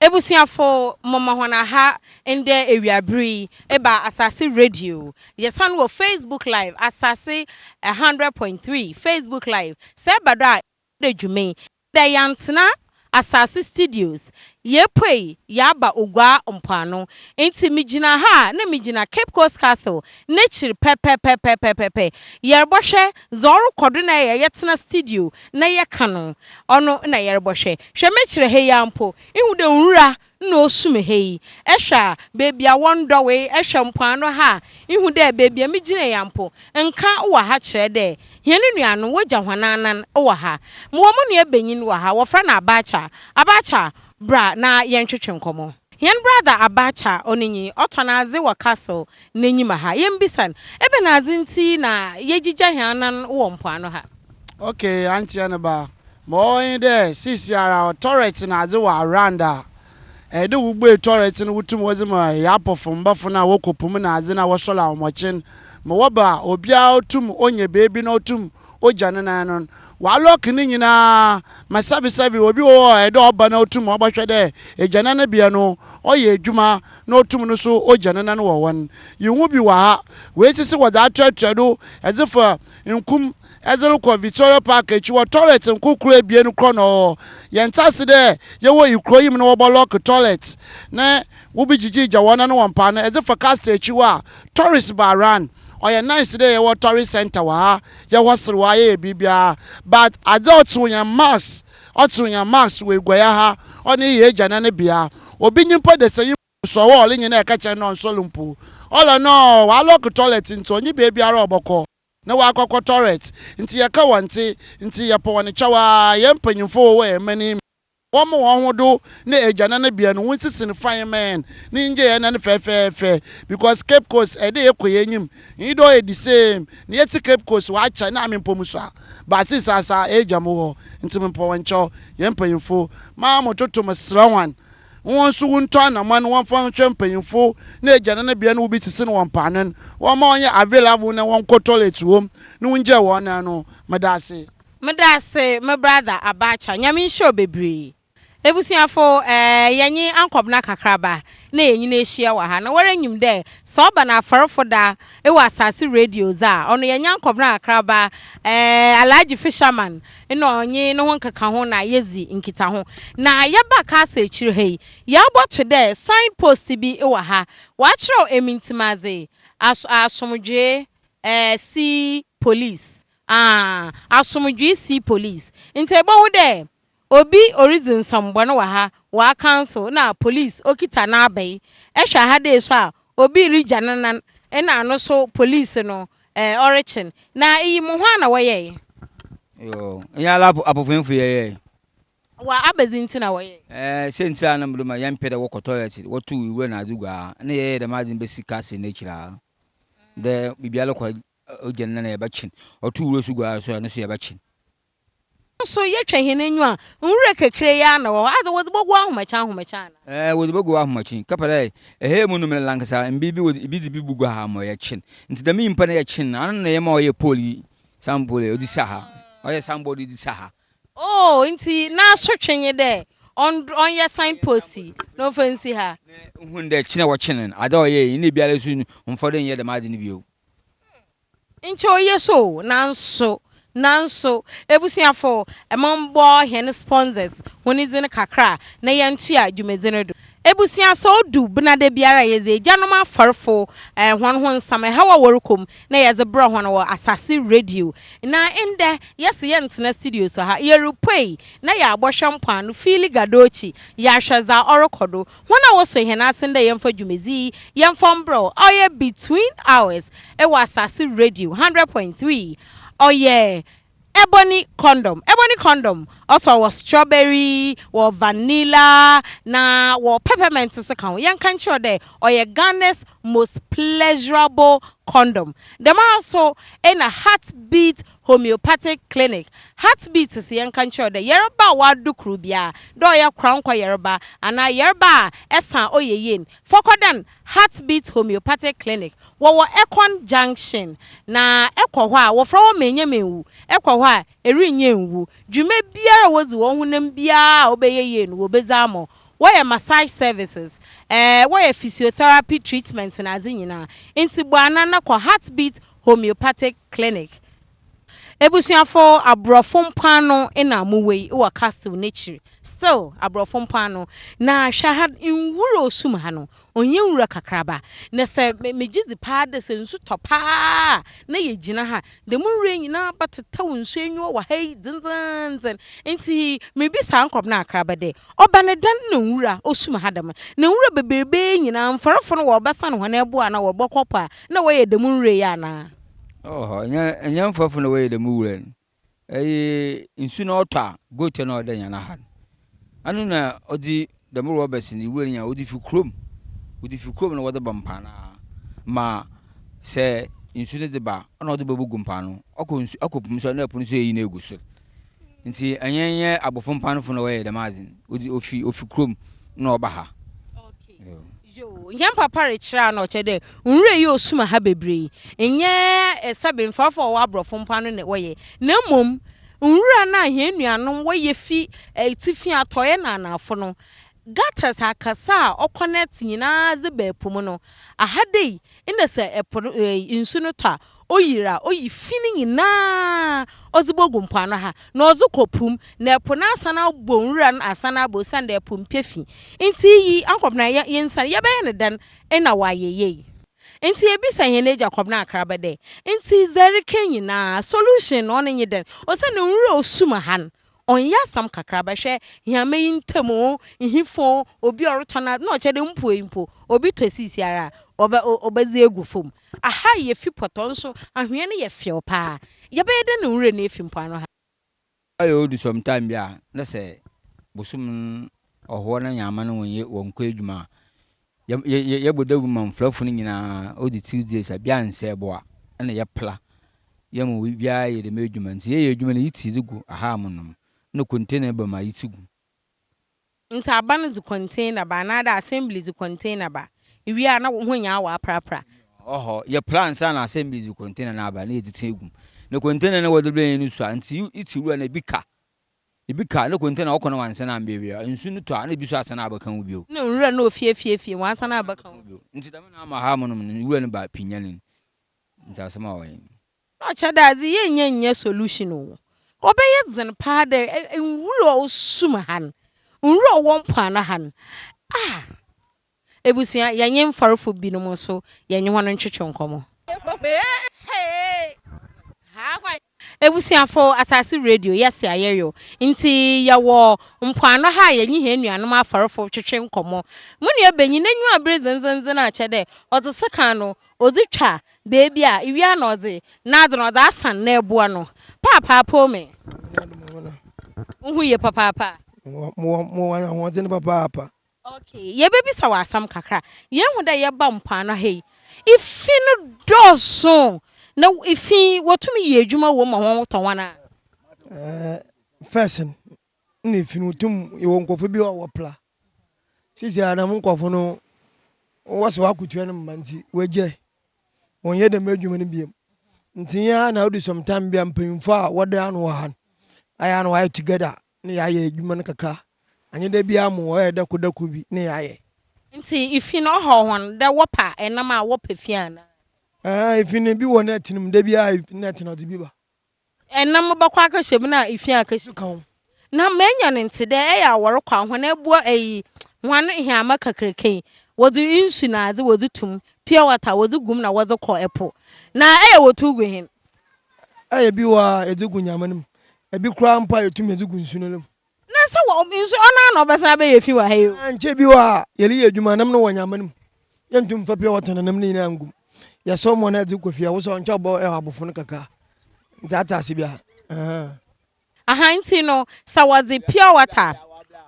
Ebusuafo moma hɔn aha ndɛ ewiaber yi eba Asase Radio. Yɛsan wɔ Facebook Live, Asase one hundred point three Facebook Live. Sɛ eba do a, yɛbɛda dwuma yi. Ndɛ yɛanntsena Asase Studios, yepuei yaaba Oguaa mpoano. Ntsi migyina ha a, nna migyina Cape Coast Castle n'ekyir pɛpɛpɛpɛpɛpɛpɛ. Yɛrobɔhwɛ Dza ɔrokɔ do na yɛ, yɛtsena studio na yɛkã no, ɔno na yɛrobɔ. Hwɛ, hwɛ mekyerɛ ha yi ara mpo, ihu dɛ nwura na osum ha yi. Ehwɛ a, beebi a wɔnndɔwee, ehwɛ mpoano ha a, ihu dɛ beebi a migyina yi ara mpo, nkã wɔ ha kyerɛ dɛ hɛn enuanom wogya hɔn anan wɔ ha. Mowɔ mo nuabanyin wɔ ha, wɔfrɛ no Abacha. Abacha, bra na yɛntwetwe nkɔmbɔ. Hɛn brada Abacha Onenyi ɔtɔn adze wɔ Castle n'enyim ha. Yembisa no, ebɛnadze ntsi na yegyigya hɛn anan wɔ mpoano ha? Okay, Antseɛ ne ba. Ma ɔwɔ nye dɛ seseiara tɔrɛtse na adze wɔ around a, ɛyɛ dɛ wobue tɔrɛtse no wotum wɔdze ma Yapofo mbafo no a wɔkɔ po mu na adze na wɔsɔla hɔn ɔkyen ma wɔba a, obiara tum onya beebi na otum ogya no nan no ɔalɔke ne nyina ma sɛbesɛbe obi wɔ hɔ a ɔyɛ dɛ ɔba na otum ɔbɔhwɛ dɛ egyananbea no ɔyɛ edwuma na otum no so ogya ne nan wɔ hɔ n'. Yehu bi wɔ ha, woesi se wɔdze atoatoa do dze fa nkum dze rokɔ Victoria Park ekyi hɔ, toilet nkorkor ebien korɔ na ɔwɔ hɔ. Yɛnntse ase dɛ yɛwɔ ikurow yi mu na wɔbɔlɔke toilet ne. Wobegyigye Djawana no wɔ mpa no edze fa Castor ekyi hɔ a, tourist ba around. Ɔyɛ nice dɛ yɛwɔ tourist center wɔ ha, yɛwɔ serew a, yɛyɛ biribiara but adze a ɔtsew hɛn max, ɔtsew hɛn max wɔ eguayɛ ha, ɔno eyɛ egya na ne bea. Obi nye mpo desanyi so ɔwɔ hɔ a ɔrenye no ɛkɛkyɛ no dɛ ɔnnsɔr mpo. Ɔlɔ no ɔalock toilet ntsi ɔnye beebiara a ɔbɔkɔ na ɔakɔkɔ toilet ntsi yɛka wɔnntse ntsi yɛpɛ hɔn kyɛw ara, hɛn mpanyimfo wɔwɔ hɛn man yi mu. Wɔma wɔn ho do na egyanan bea no, wonsisn fine man ne ngyɛɛ nan fɛfɛɛfɛ because Cape Coast ɛyɛ dɛ yɛkɔ yɛnyim, nyi dɛ ɔyɛ the same na yɛtse Cape Coast wɔ akyɛ na ame mpɔ mu so a, but sis asa egya mo hɔ ntsi mepɔ wo nkyɛw, yɛn mpanyimfo ma mo toto meserɛ hɔn hɔn so wontɔ anamɔn wɔmfa nhwɛ mpanyimfo na egyanan bea no wobi sisn wɔ mpaano n wɔma ɔnyɛ available na wɔnkɔ toilet wɔ mu na wongyɛɛ wɔn nan no, meda ase. Meda ase me brother Abacha Nyame nhyira wo bebree. Ebusuafo eh yɛnye ankɔbena kakraba na yenyina ehyia wɔ ha na wara nyim dɛ sɛ ɔba no afɔrfo da ewɔ asaase radio dze a ɔno yɛnye ankɔbena kakraba eh Alhaji Fisherman na ɔnye no ho nkekaho na yedzi nkitaho na yɛba Kasa ekyir ha yi yɛabɔto dɛ sign post bi ewɔ ha wɔakyerɛw Emintsimadze Aso Asomdwee eh si police Aah asomdwee sea police. Ntsɛ ebohu dɛ obi oridzi nsɛmbɔn wɔ ha, ɔacancel na police okitsa n'abae. Ehwɛ ha dei so a obi rigya ne nan na no so police no eh ɔrekyen. Na iyi mo hwan na wɔyɛe? Yoo, enye ara apofenfo yɛyɛe. Wɔ abɛdze ntsi na wɔyɛe? Eh, siantsir a na mede ma yɛmmpɛ dɛ wɔkɔ toilet, wɔtow ewura na adze gu a, nna yɛyɛ dɛm adze no besi castle no ekyir ha dɛ biribiara kɔ Ogya no na yɛbɛkye no. Ɔto wura so gu ara so a, ɛno nso yɛbɛkye no. Naaso yɛtwa hɛn enyiwa a, nwura kakra yi ara na ɔwɔ hɔ. Adze, wɔdze bɔgu w'ahomakyen ahomakyen anaa? Ɛɛ, wɔdze bɔgu w'ahomakyen. Kɛpɛ dɛ ɛhɛɛ mu no mber lankasa mber bi wɔdze bi dze bi bogu ha ma yɛkye no. Ntsi dɛm nyimpa no yɛkye no, ano na yɛma ɔyɛ pole yi, sign pole, ɔdze si ha. Ɔyɛ sign board dze si ha. Oh, ntsi n'asotwe nye dɛ ɔnd ɔnyɛ sign post yi na ɔmfa nsi ha. Na ohun dɛ kyen a wɔkye no no, adze a ɔyɛe yi, nna biara so no, ɔmmfa do nnyɛ dɛm adze no bio. Nkyɛ ɔyɛ so o, nanso, nanso, ebusuafo, mombɔ hɛn sponsors hɔn dzin kakra na yɛntoa dwumadzi no do. Ebusua, sɛ odu Benada biara a yɛdze egyanom afɔrfo hɔn ho nsɛm, haw a wɔrokɔ mu, na yɛdze brɛ hɔn wɔ Asase Radio. Na ndɛ, yɛse yɛnntsena studio so ha, yerupue na yaabɔhwɛ mpoano, Fili Gadochi, yaahwɛ dza ɔrokɔ do. Hɔn a wɔsɔ hɛn asen dɛ yɛmfa dwumadzi yi yɛ mfɔmberɛw a ɔyɛ Between Ours wɔ Asase Radio hundred point three, ɔyɛ Ebony Condom, Ebony Condom, ɔsɔ wɔ Strawberry, wɔ Vanilla, na wɔ Peppermint so ka ho. Yɛnka nkyerɛ wo dɛ ɔyɛ Ghana's most pleasurable condom. Dɛmara so na Heartbeat homeopathic clinic, heartbeats se yɛnka nkyerɛ wo dɛ yarba a wɔado kor biara, dɛ ɔyɛ korankɔ yarba anaa yarba a ɛsa a ɔyɛ yen, fa kɔdan Heartbeats Homeopathic Clinic. Wɔwɔ Ekwan Junction, na ekɔ hɔ a wɔfrɛ hɔ Menye Menwu, ekɔ hɔ a erinnye nnwu. Dwuma biara a wodzi wɔ wo honam biara a ɔbɛyɛ yie no wɔbɛdzi ama wo. Wɔyɛ massage services, eh, wɔyɛ physiotherapy treatment na adze nyina. Ntsi bɔ anan na kɔ Heartbeats Homeopathic Clinic. Ebusuafo, aborɔfo mpoano na mowɔ yi wɔ castle no ekyir. Still, aborɔfo mpoano. Na hwɛ ha, nwura osum ha no, ɔnnyɛ nwura kakraba. Na sɛ megye dzi paa dɛ sɛ nsu tɔ paa a na yegyina ha. Dɛm nwura yi nyina bɛtsetsɛw nsu enyiwa wɔ ha yi dzendzenndzen. Ntsi mibisa ankorɔp na akraba dɛ, ɔba no dɛn na nwura osum ha dɛm? Na nwura beberebe nyina, mfɔrfo no wɔrebɛsan hɔn eboa anaa wɔrobɔkɔ po a, Nna wɔyɛ dɛm nwura yi anaa? Ɔwɔ hɔ. Nnyɛ nnyɛ mfɛfo na wɔyɛ dɛm nwura no. Ɛyɛ nsu na ɔtɔ a, goat na ɔda nya no ha no. Ano na ɔdze dɛm rɔbɛs no nwura no nya, ɔdze fi kurom. Wɔdze fi kurom na wɔdze ba mpaanaa ma sɛ nsu no dze ba a, nna ɔdze bogu mpaano. Ɔkɔ nsu ɔkɔ po mu so a, nna ɛpo no so eyi na egu sor. Ntsi ɛnnyɛ nnyɛ abofo mpanfo na wɔyɛ dɛm adze no. Wɔdze ofi ofi kurom na ɔba ha. Yoo, hɛn papa rekyerɛ a nna ɔkyerɛ dɛ nwura yi osuma ha beberee nnyɛ esa bemfafo a ɔwɔ aborɔfo mpo ano na wɔyɛ, na mbom nwura no a hɛn nuanom wɔyɛ fi etsifi, atɔe na anaafo no, gutters akɛse a ɔconnect nyina dze ba po mu no. Ahadei Nna sɛ po no nsu no tɔ a, oyir a, oyi fi no nyina ɔdze bogu mpoano ha, na ɔdze kɔ po mu, na po no asan abɔ nwura no asan aba osiandɛ po mmpɛ fi. Ntsi iyi ankɔbena yɛ yensan, yɛbɛyɛ no dɛn na ɔayɛ yie? Ntsi yebisa hɛn egya Kɔbena Akraba dɛ, Ntsi dza erekã nyina, solution no ɔno nye dɛn? Osiandɛ nwura a osum ha no, Ɔnnyɛ asɛm kakraba, hwɛ hɛmba yi ntamu o, nhifo o, obi a ɔrotɔn adze, nna ɔkyerɛ dɛ mpuei mpo, obi tɔ siisiara a, ɔbɛ o, ɔbɛdze egu famu. Aha yɛ fi pɔtɔ, nso anhwea no yɛ fɛw paa. Yɛbɛyɛ dɛn na nwura no efi mpoano ha? Ɔyɛ odu some time bi a, na sɛ bosoom no ɔhoɔ na Nyaama no wonnye wɔn nkɔ edwuma a, Yɛ yɛ yɛ yɛbɔ dawur ma mfrafo no nyina, odzi tsir dze sa bia nnsɛ bo a, nna yɛpla yɛ ma obiara yɛ dɛm edwuma. Ntsi yɛyɛ edwuma no yitsi dze gu ahaa mu nom na container ba mu a yitsi gu. Ntsi aban dze container ba anaadɛ assembly dze container ba, iwie a na hɔn nyinaa wɔaprapra. Ɔwɔ hɔ, yɛpla ansa na assembly dze container no aba na yɛdze tsi egu mu. Na container no wɔdze brɛ hɛn no sua, ntsi itsi wura na bi ka Ebi ka ne konte na ɔkɔ na wansan ambeabea. Nsu no tɔ a na ebi nso asan a abɛka ho bio. Ne nwura na ofie fie fie, wansan a abɛka ho bio. Nti dɛm na ama hamonom no nwura no ba pinya no. Nti asɛm a ɔyɛ no. Na ɔkyɛ dɛ adze yennya nnyɛ solution o. Ɔbɛyɛ dzen paa dɛ nwura a ɔwɔ sum ha no, nwura a ɔwɔ mpoano ha no, ah! Ebusua, yɛnye mfɔrfo binom so yɛnye hɔn ntwetwe nkɔmbɔ. Ebusuafo, Asaase Radio yɛ se a yɛwew, ntsi yɛwɔ mpoano ha a yɛnye hɛn nuanom afɔrfo twetwe nkɔmbɔ. Mo nuabanyin n'enyiwa aber dzendzenndzen a kyerɛ dɛ ɔdze sekan no odze twa beebi a iwie a na ɔdze n'adze no ɔdze asan n'eboa no. Paapaa Pome, wo ho ye papaapa? Mowɔ ahoɔdzen papaapa. Ok, yebebisa wo asɛm kakra. Yehu dɛ yɛba mpoano ha yi, efi no dɔɔ sõ. Na efi yi, wotum yɛ edwuma wɔ mu ma hɔn ho tɔ hɔn a? Ɛɛ, first no, nna efi no wotum, yɛwɔ nkorɔfo bi a wɔpla. Seseiara dɛm nkorɔfo no, wɔse wɔakotua no mma ntsi woegyae, wɔnnyɛ dɛm edwuma no bio. Ntsi nye a nna odu some time bi a mpanyimfo a wɔda ano wɔ ha no, ayɛ a nna wɔayɛ together Ne yayɛ edwuma no kakra, annyɛ da biara mom ɔyɛ dɛ kor da kor bi ne yayɛ. Ntsi ifi no ɔhaw hɔn dɛ wɔpa nam a wɔpɛ fi anaa? Aane, ifi no bi wɔ nɛt no mu, da biara ifi no nɛt no ɔdze bi ba. Nam no bɔkɔ akɛhyɛ mu na ifi akɛhyɛ mu. Ka ho. Na menya no ntse dɛ eyɛ a wɔrokɔ a hɔn eboa eyi hɔn heama kakraka yi, wɔdze nsu na adze wɔdze tum, pure water, wɔdze gu mu na wɔdze kɔ po, na eyɛ a wɔtow gu hen? Ɛyɛ bi wɔ a yɛdze gu nyama no mu, bi koraa mpo a yetum dze gu nsu no mu. Na sɛ wɔ nsu ɔno ara na ɔbɛsan abɛyɛ fi wɔ ha yi o. Nkyɛ bi wɔ a yɛreyɛ edwuma nam no wɔ nyama no mu, yenntum mmfa pure water na nam no nyina nngu mu. Yɛsɔw mu anaa yɛdze kɔ fie a wosɔ a nkyɛ ɔbɔ abofo no kakra. Ntsi atse ase bi ahaa. Ahaa ntsi no sɛ wɔdze pure water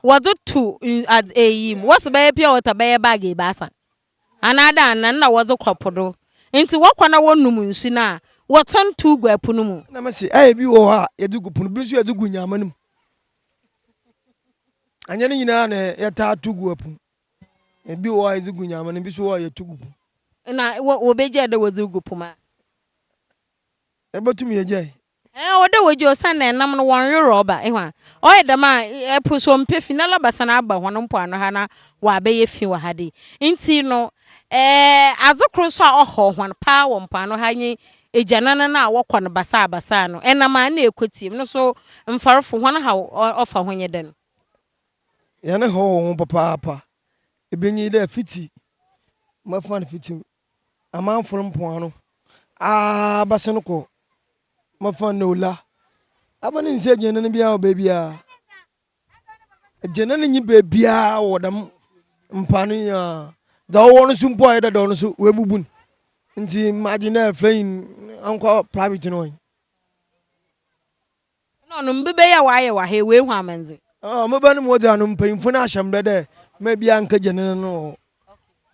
wɔdze to adz eyi mu, wɔse bɛyɛ pure water bɛyɛ bag ebiasa. Anaa dɛn na nna wɔdze kɔ po do? Ntsi wɔkɔ na wɔnom nsu no a, wɔtsen tow gu po no mu. Nna mese, Ayɛ bi wɔ hɔ a yɛdze gu po no, bi so yɛdze gu nyaama no mu. Annyɛ ne nyina na yɛtaa tow gu po mu. Bi wɔ hɔ a yɛdze gu nyaama no mu, bi so wɔ hɔ a yɛtow gu po mu. Nna wobegyaa dɛ wɔdze regu po mu a? Yebotum yegyaa. Ɛɛ ɔwɔ dɛ wogye osiandɛ enam no wɔnnwe rɔɔba. Ehu a? Ɔyɛ dɛm a, po so mmpɛ fi na labasan aaba hɔn mpoano ha na wɔabɛyɛ fi wɔ ha de. Ntsi no, ɛɛ adze kor so a ɔhaw hɔn paa wɔ mpoano ha nye egyanan no a wɔkɔ no basaa basaa no. Enam a nna ekotsie mu no so mfarfo hɔn haw ɔfa ho nye dɛn? Hɛn haw wɔ ho papaapa. Bi nye dɛ fitsi, mɛfa no fitsi Amanfoɔ mpoano aa ba sene kɔ ma fa ne ola aba ne nse gyina ne biara wɔ baabi aa gyina ne nyi baabi aa wɔ dam mpoano yi aa da wɔwɔ no so mpo ayɛ dada ɔno so wɔ abubun nti ma gyina flɛyin ankɔ private no wɔn. Nna ɔno mbɛbɛ yi a ɔayɛ wɔ ha yi, oehu amandze. Ɔno mbɛbɛ no mu dze ano mpanyimfo no ahyɛ mbrɛ dɛ mma biara nnkɛgye ne nan wɔ hɔ.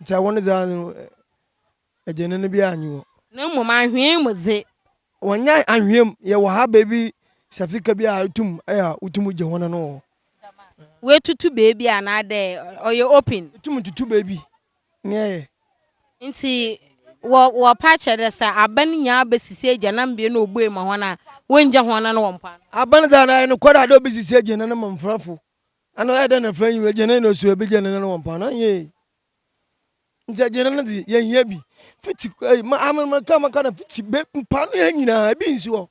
Ntsi awɔn dze ano gye ne no biara nnyi hɔ. Na mbom anhwea mu dze. Wɔnnyɛɛ anhwea mu. Yɛwɔ ha beebi safika bi a itum yɛ a wotum gye hɔn ano wɔ hɔ. Woetutu beebi anaadɛ ɔyɛ open? Itum tutu beebi. nea ɛyɛ. Ntsi wɔ wɔpa kyerɛ dɛ sɛ aban nyinaa besisi egyananbea na obue ma hɔn a, wonngya hɔn nan wɔ mpoano. Aban dze ana ɔyɛ nokwar a dɛ obesisi egyanan ma mfrafo? Ana ɔyɛ dɛn na mfra nnyi hɔ? Egyanan na osuo a ebegya ne nan wɔ mpoano? Nyew. Ntsi egyanan dze, yehia bi. Fitsi, ei, ma, amen, meka, meka no, fitsi be, mpoano ha nyina, bi nnsi hɔ.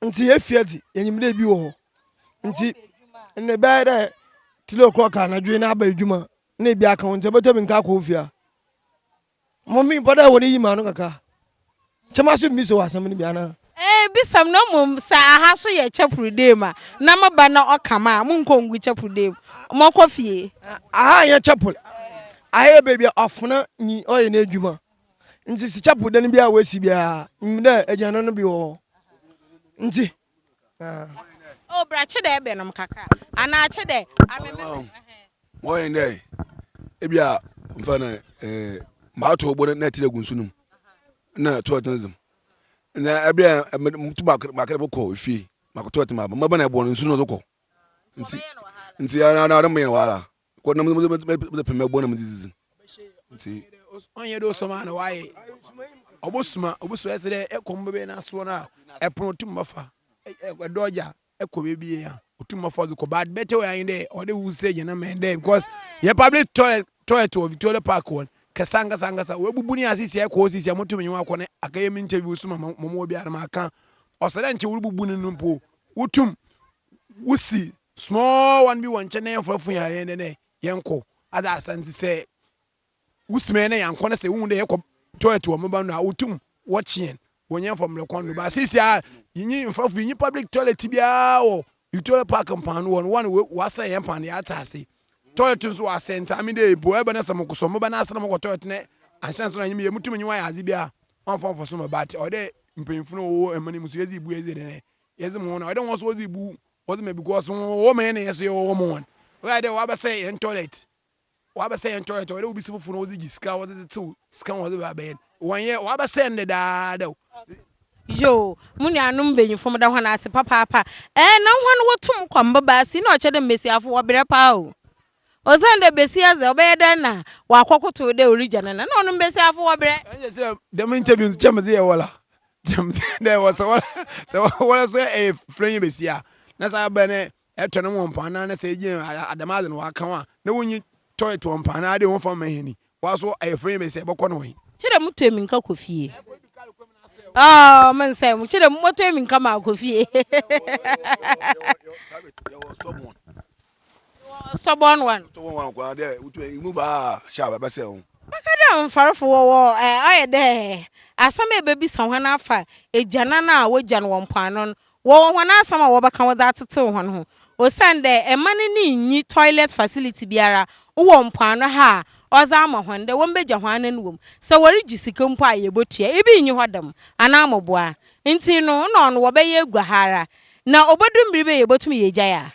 nti yɛfie dze yɛnyim dɛ bi wɔ hɔ nti ndɛ bɛyɛ dɛ three o'clock anadwo yi na aba edwuma na ebi aka wo ntsi ebɔtɔ bi nka akɔ wo fie a mo mepɛ dɛ hɔn yi m'ano kakra nkyɛ mase mibisa wo asɛm no bi anaa. Ɛɛ bisa mu na mmom sɛ aha so yɛ chapel dɛ mu a na me ba na ɔka ma a mo nkɔ ngu chapel dɛ mu mo kɔ fie. Aha nyɛ chapel aha yɛ baabi a ɔfena nyi ɔyɛ n'edwuma. Nti si chapel dan bi a wɔasi biara, nim dɛ aduane no bi wɔ hɔ. Nti. O bra kye dɛ ɛbɛnom kakra. Anaa kye dɛ ameme. Wɔyɛ dɛ ebi a mfa na ɛɛ maato ɔbɔ na ɛte dɛ gu nsu no mu na ɛto ɛtena dzem. Na ɛbi a ɛmutu baako baako de bɛkɔ efie baako to ɛtena baako mɛbɛn na ɛbɔ no nsu no so kɔ. Nti nti ɛna ɛna ɛna mo yɛ wala. kɔ na mede pem ɛbɔ na mede didi nti ɔnyɛ de ɔsɔm a na wayɛ ɔbɔsuma ɔbɔsuma ɛsɛ dɛ ɛkɔm bɛbɛ no asoɔ no a ɛpono ɔtum bɛfa ɛdɔ ɔgya ɛkɔ baabi yɛ a ɔtum bɛfa ɔde kɔ bad bɛtɛ wɔ yɛn dɛ ɔde wu sɛ gyina mɛn dɛ because yɛ public toilet toilet wɔ Victoria Park wɔn kɛsa nkasa nkasa wɔabubu ne asisi ɛkɔ sisi a motum nyɛ wakɔ ne akɛyɛ me nkyɛ bi ɔsuma mɔmɔ bi a na maka ɔsɛ dɛ nkyɛ wobubu ne no mpo wotum wosi small one bi wɔ nkyɛn na yɛmfa fun yɛn dɛ dɛ yɛnkɔ ada asa nti sɛ wosi mɛ na yɛnkɔ na sɛ wohu dɛ yɛkɔ toilet wɔ meba no a wotum wɔkye yɛn wɔn yɛn fa mmerɛ kwan do ba sisi a yɛnyi mfa fun yɛnyi public toilet biara wɔ Victoria Park mpan no wɔn wɔn wɔasɛn yɛn mpan deɛ ate ase toilet nso wɔasɛn nti ame dɛ ebu ɛbɛ na sɛ mokɔ sɛ meba na asɛ na mokɔ toilet na anhyɛ nso na nyim yɛ mutum nyi wɔn ayɛ adze biara wɔn fa mfa so mɛ but ɔdɛ mpanyinfo no wɔwɔ ɛmɛ no mu so yɛdze ebu yɛdze dɛ Yɛdze hɔn a ɔda hɔn so wɔdze ebu wɔdze ma because wɔwɔ ma hɛn na hɛn so yɛwɔ ma hɔn. Ɔyɛ dɛ wɔabɛsɛɛ hɛn toilet, wɔabɛsɛɛ hɛn toilet a ɔyɛ dɛ obi si fofor na ɔdze gye sika a wɔdze dze tsew sika a wɔdze ba abɛyɛ no. Wɔnnyɛ, wɔabɛsɛɛ no dedaada o. Yoo, mo nuanom mbanyimfo meda hɔn ase papaapa. Ɛɛ na hɔn wotum kɔ mbabaa ase yi na ɔkyerɛ dɛ mbasiafo wɔberɛ paa o. Osiandɛ basia dze ɔbɛyɛ dɛn na ɔakɔkotow dɛ origya ne nan. Nna ɔno mbasiafo wɔberɛ. Nkyɛ dɛm interview no nkyɛ medze yɛ wala. Dɛ wɔ sɛ wɔlɛ sɛ wɔlɛ so ɛ fira nye besi a na sɛ abɛ ne ɛ tɔ ne wɔn paa na ne sɛ ɛ gye adɛm adze no wɔ ka wɔn a na wɔn nyi tɔ ɛtɔ wɔn paa na ade wɔn fa mɛ hɛni wɔ so ɛ fira nye besi a bɛ kɔ ne wɔn. Kyɛ dɛ mo tɔ emi nka kɔ fie. Ɔɔ me nsɛ mo kyɛ dɛ mo tɔ emi nka maa kɔ fie. Mewɔ stubborn one. Stubborn one kura dɛ wotu ɛ move aa hyɛ a bɛsɛ ho. Bɛka dɛ mfarefo wɔwɔ ɛ ɔyɛ dɛ asɛm a ebebisa hɔn afa egyanan a wogyan wɔ mpoano no wɔwɔ hɔn asɛm a wɔbɛka wɔdze atsetsew hɔn ho osiandɛ mma no ne nnyi toilet facility biara wɔ mpoano ha a ɔdze ama hɔn dɛ wɔmbegya hɔn anan wɔ mu sɛ wɔregye sika mpo a yebotua ibi nnyi hɔ dɛm anaa moboa ntsi no nna ɔno wɔbɛyɛ egua ha ara na obodu mber bi a yebotum yegyae a.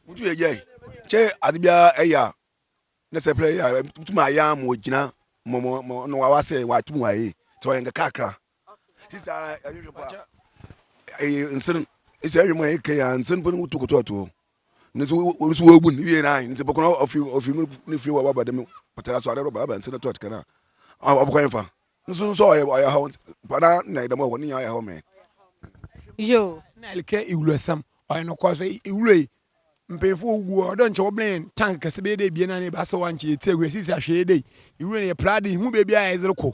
Mutu yɛ yɛ kyɛ ade biara ɛyɛ a na sɛ pɛrɛ yɛ a mutu ma ayɛ ama ogyina mɔ mɔ mɔ na wawa sɛ watu mu ayɛ sɛ ɔyɛ nka kakra sisi ara ɛyɛ hwɛ pa ɛyɛ nsere sisi ɛyɛ mu ɛyɛ kɛyɛ nsere pɛrɛ mutu koto ato ne so wɔn so wɔbu ne wie nan nsɛ pɔkɔnɔ ɔfi ɔfi ne fi wɔ waba dɛm pɔtɛra so adɛ rɔba aba nsɛ na tɔt kɛnɛ a ɔbɛkɔ yɛn fa Nso nso ɔyɛ ɔyɛ hɔ pana na ɛdɛm ɔhɔ ne nyɛ ɔyɛ hɔ mɛ. Yo. Na ɛlikɛ iwulo ɛsɛm ɔyɛ no kɔ so iwulo yi mpanyinfo wɔ wugu ɔdɔ nkyɛ wɔbɛn yɛn tank kɛse bɛyɛ dɛ ebien anaa ebaasa wɔ ankyɛ yɛti agu yɛsisi ahwɛ yɛ dɛ iwulo no yɛ pla de ihu baabi a yɛdze rekɔ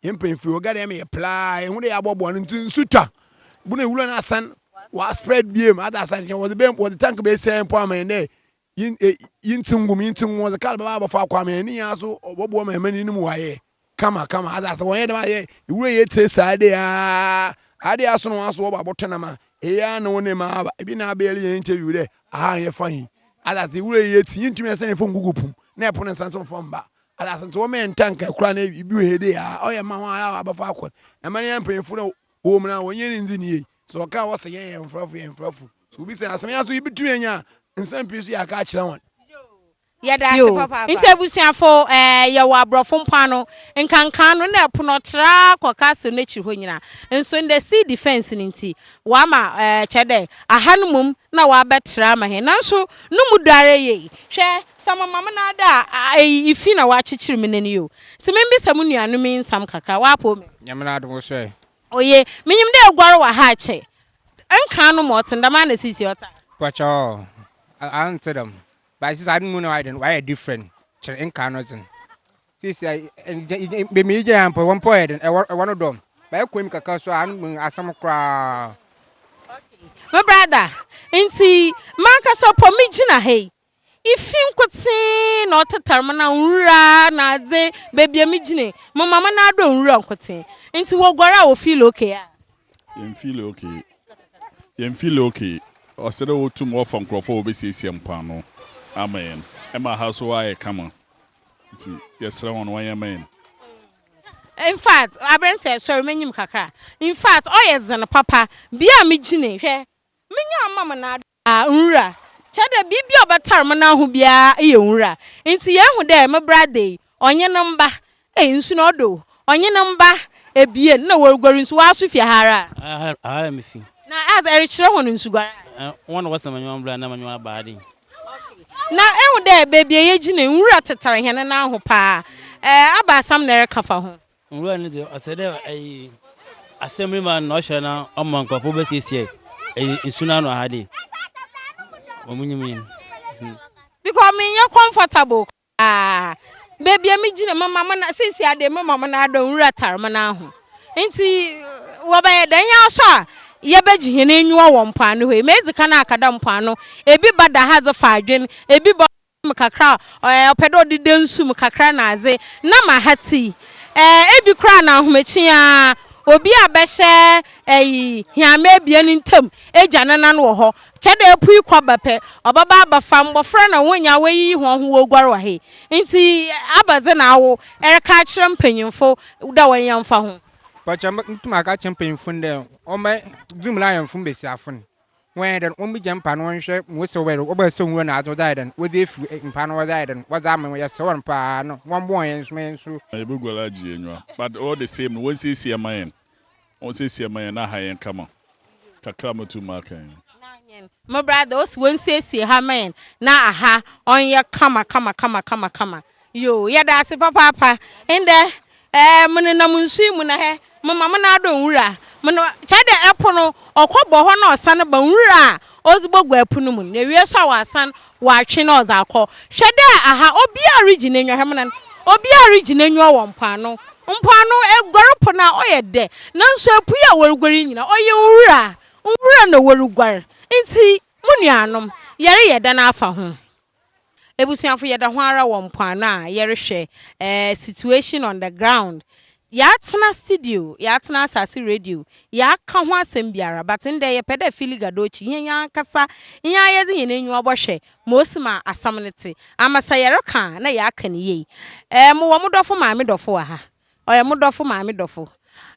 yɛn mpanyinfo yi ɔga dɛ ɛma yɛ pla ehu dɛ yɛabɔboa no nti nsu twa bu na iwulo no asan wa spread biem adze asan kyɛn wɔdze bɛn wɔdze tank bɛyɛ sɛ mpo ama yɛn dɛ Yin e yin tse ngum yin tse ngum ɔdze kar bɛba abɔfo akɔ ama hɛn ne nyinaa so ɔbɔboa ma hɛn no mu ɔayɛ kama kama adze ase wɔnyɛ dɛm ayɛ ewura yi etsie saa adze yi aa adze yi asono wɔn aso wɔba abɔtɔ nam a eyi aa na wo ne ma aba ebi na abɛyɛ yɛn interview dɛ aha a yɛfa yi adze ase ewura yi etsi yin ntumi nsan efom gugu pum na ɛpo ne nsa nso nfa mba adze ase nti wɔma yɛn tanka kura na ebi wɔ hɛ dɛ aa ɔyɛ ma hɔn a abɔfo akɔ ɛma ne yɛn mpanyinfo na wɔwɔ mu no wɔnyɛ ne ndzi ne yie Sɛ wɔka a, wɔse yɛn yɛ mfrafo, yɛn mfrafo. Sɛ wobisa yɛn asɛm a, yɛn nso yebetumi anya nsɛm pii nso yɛaka akyerɛ wɔn. Bio nso abusuafo, yɛwɔ aborɔfo mpo ano, nkanka ano na ɛpo no tra kɔ castle no akyiri hɔ nyina. Nso ndɛ sea defence no nti, wɔama, kyerɛ dɛ, aha no mmom na wɔabɛtra ama hɛn. Nanso no mu dɔ ara yie. Hwɛ, sɛ mema mo nan da a, eyi ifi na wɔakyekyer me nan yi o. Ntsi mimbisa mo nuanom yi nsɛm kakra, wɔapow me? Nyame n'adom, wɔsoɛɛ. Oye, minyim dɛ eguar wɔ ha akyɛ. Nkan no ma ɔtsen dɛm a na sesei ɔtse a? Pakyɛw, anntse dɛm. But sesei adze no mu na ɔayɛ dɛn, ɔayɛ different kyɛn nkan no dze. Sesei beebi a igyina mpo, hɔ mpo ɔyɛ dɛn, hɔ no dɔ. But ekɔ enyim kakra so a, ano mu asɛm koraa. Okay, me brother, ntsi mankasa mpo migyina ha yi, Ifi nkotsee na ɔtetar me na nwura na adze beebi a migyina yi, mema me nan do nwura nkotsee. Ntsi woguar a wofeel okay a? Yemmfeel okay. Yemmfeel okay. Ɔsɛ dɛ wotum wɔfa nkorɔfo a wobesiesie mpoano ama hɛn ma ha so ayɛ kama. Ntsi yɛserɛ hɔn wɔnyɛ mma hɛn. Infact, aberantsɛ, sɔr m'enyim kakra. Infact, ɔyɛ dzen papa. Bea a migyina yi, hwɛ, menyaa mema me nan do. A Nwura, kyerɛ dɛ biribi a ɔbɛtar mo n'aho biara yɛ nwura. Ntsi yehu dɛ me bra da yi, ɔnye ne mba, ei, nsu no ɔdɔ o, ɔnye ne mba ebien nna woruguar nsu, woaso fi ha ara a? Aha, aha ara mifi. Na adze, erekyerɛ hɔn nsuguar a? Ɛ, hɔn na wɔsɛn m'enyiwa mbrɛ a nna m'enyiwa aba ha dɛn. Okay. Na ehu dɛ beebi a yegyina yi, nwura tetar hɛn n'aho paa. Ɛ, abaasa mna ereka fa ho? Nwura no dze, ɔsɛ dɛ asɛm ma no na ɔhwɛ na ɔma nkorɔfo bɛsiesie nsu no ano aha de wɔ mo nyim yi. Because me nyɛ comfortable koraa baabi a me gyina mo ma mo na sisi ade mo ma mo na adɔ nwura tar mo na ho nti wɔ bɛ yɛ dɛn yɛ asɔ a yɛ bɛ gye hɛn enyiwa wɔ mpoano hɔ yi me edzi kan akada mpoano ebi ba da ha dze fa adwen ebi ba. mu kakra a, ɛɛ, ɔpɛ dɛ ɔde da nsu mu kakra na adze, na ma ha tsi. Ɛɛ, bi koraa na ahomakye ara, obi a bɛhyɛ, ayi, hɛmba ebien ntamu egya ne nan wɔ hɔ, kyerɛ dɛ epue kɔ ba pɛ, ɔbɛba abɛfa mbofra na hɔn nyina woeyiyi hɔnho woeguar wɔ ha yi. Ntsi abɛdze na awo ereka akyerɛ mpanyimfo dɛ wɔnyɛ mfa ho? Bɔkyɛ, mutum aka akyerɛ mpanyimfo no dɛ wɔmbɛgye mu na ayɛ mfom mbasiafo no. Wɔyɛ dɛn? Wombigya mpa no wɔnhwɛ ma osiw bɛyɛ dɛn? Wɔbaa sum mu hɔ na adze wɔdze ayɛ dɛn? Wɔdze efir eh, mpa no wɔdze ayɛ dɛn? Wɔdze ama hɔn, yɛserɛ hɔn paa no, wɔmboa hɔn yɛnsom hɛn so. Na yeboguar agye hɛn enyiwa. But all the same no, wɔnsiesie mma hɛn, wɔnsiesie mma hɛn na ha hɛn kama. Kakra a motum maka yi no. Na hɛn mbra dɛ, ose wɔnsiesie ha mma hɛn na aha ɔnyɛ kama kama kama kama kama. Yo, yɛda ase papaapa. Ndɛ, eh, menenam nsu yi mu na hɛ, mema me nan adɔ nwura mu. Kyerɛ dɛ, po no, ɔkɔ bɔ hɔ na ɔsan ba nwura a ɔdze bɔguar po no mu no, na ewie so a ɔasan ɔatwe na ɔdze akɔ. Hwɛ dɛ aha, obiara rigye n'enyiwa, hwɛ mo nan, obiara rigye n'enyiwa wɔ mpoano. Mpoano, eguar po no a, ɔyɛ dɛ, naaso epuei a woruguar yi nyina, ɔyɛ nwura, nwura na woruguar. Ntsi, mo nuanom, yɛreyɛ dɛn afa ho? Ebusuafo yɛda ho ara wɔ mpoano a yɛrehwɛ eh situation on the ground yɛatena studio yɛatena asase radio yɛaka ho asɛm biara but ndɛ yɛpɛ dɛ fili gadochi hɛn ankasa hɛn ara yɛdze hɛn enyiwa bɔhwɛ ma osi ma asɛm no tse ama sɛ yɛreka a na yɛaka no yie eh mowɔ mo dɔfo maame dɔfo wɔ ha ɔyɛ mo dɔfo maame dɔfo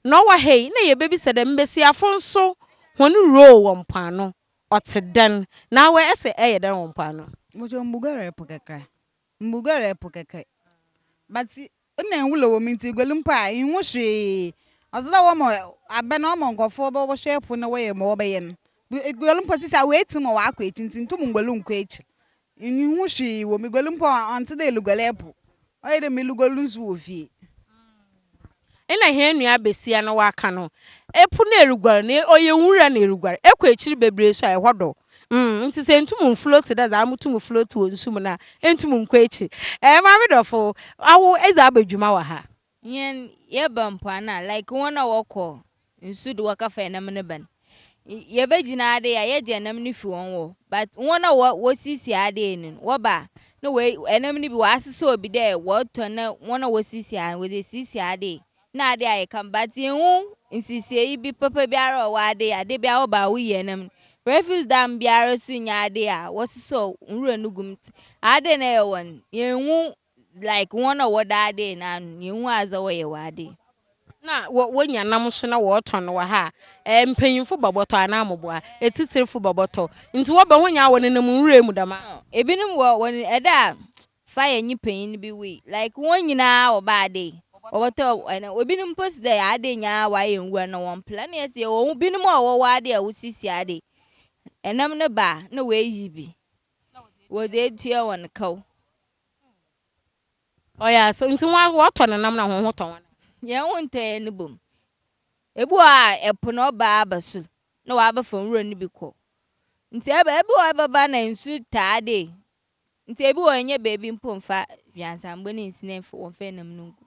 na ɔwɔ ha yi na yɛbɛbisa dɛ mbasiafo nso hɔn role wɔ mpoano. Ɔtse dɛn, na awe ese ɛyɛ dɛn wɔ mpoano? Mpacho mbuguare po kɛkɛ mbuguare po kɛkɛ but nna nwura wɔ mu ntsi eguar mpo a innhu hwee ɔdze dɛ wɔma abɛn wɔma nkɔfoɔ bɔhwɛ po no wɔyɛ ma wɔbɛyɛ no eguar mpo sisi a oetsim wɔ w'akɔ etsi ntsi nntum nnguar nnkɔ ekyir Minnwen ho hwee o, miguali mpo a, ɔnntse dɛ eluguali po. Ɔyɛ dɛ meluguali nsu wɔ fie. Nna hɛn nua basia no ɔaka no, Epo na eruguar no, ɔyɛ nwura na eruguar. Ekɔ ekyir beberee so a, hɔ dɔ. Mm, ntsi sɛ enntum nnfloat dɛ dza amotum ffloat wɔ nsu mu no a, enntum nnkɔ ekyir. Ɛɛ, maame dɔfo, awo edze aba dwuma wɔ ha. Hɛn yɛba mpoano a like hɔn a wɔkɔ nsu do wɔkɛfa nam no bɛn. Yɛbɛgyina adee a yɛgye nam no fi hɔn hɔ but hɔn a wɔsiesie adee no wɔba a na wei nam no bi wɔasesɔɔ bi dɛ wɔtɔ na hɔn a wɔsiesie a wɔdze esiesie adee na adee ayɛ kama but yennhu nsiesiei bi papa biara a ɔwɔ adee a dabia wɔba a woyie nam no. Refuse dam biara so nnyɛ adee a wɔsesɔɔ nwura no gu mu ntsi adee na yɛwɔ no yennhu Like wɔn a wɔda ade no ano, nea ehu adze wɔyɛ wɔ ade. Na wɔ wonya nam nso na wɔtɔn wɔ ha a, ɛɛ mpanyimfo bɔbɔtɔ anaa mmoboa, etsitsirfo bɔbɔtɔ, ntsi wɔbɛ ho nyia wɔ nenam nwura mu dɛm a. Ɔɔ, binom wɔ wɔn ɛda a fa yɛ nye panyin bi wui, like wɔn nyinaa wɔba ade wɔbɔtɔ ɛna obinom mpo si dɛ ade nyinaa wɔayɛ nwura na wɔn pla na yɛsi yɛwɔ binom a wɔwɔ ade a wosisi ade, ɛnam no ba a na woeyi bi wɔdze etua hɔn kaw. Ɔyɛ asɛm ntsi hɔn wɔtɔ ne nam na hɔn ho tɔ hɔn a. Hɛn ho nntɔ hɛn no bɔ mu. Bi wɔ hɔ a po na ɔbaa aba su na ɔabɛfa nwura no bi kɔ. Ntsi ɔba bi wɔ hɔ ɔbɛba na nsu taa dee ntsi bi wɔ hɔ nnyɛ beebi mpo mmfa hweansambo ne nsi na wɔmmfa nam no nngu.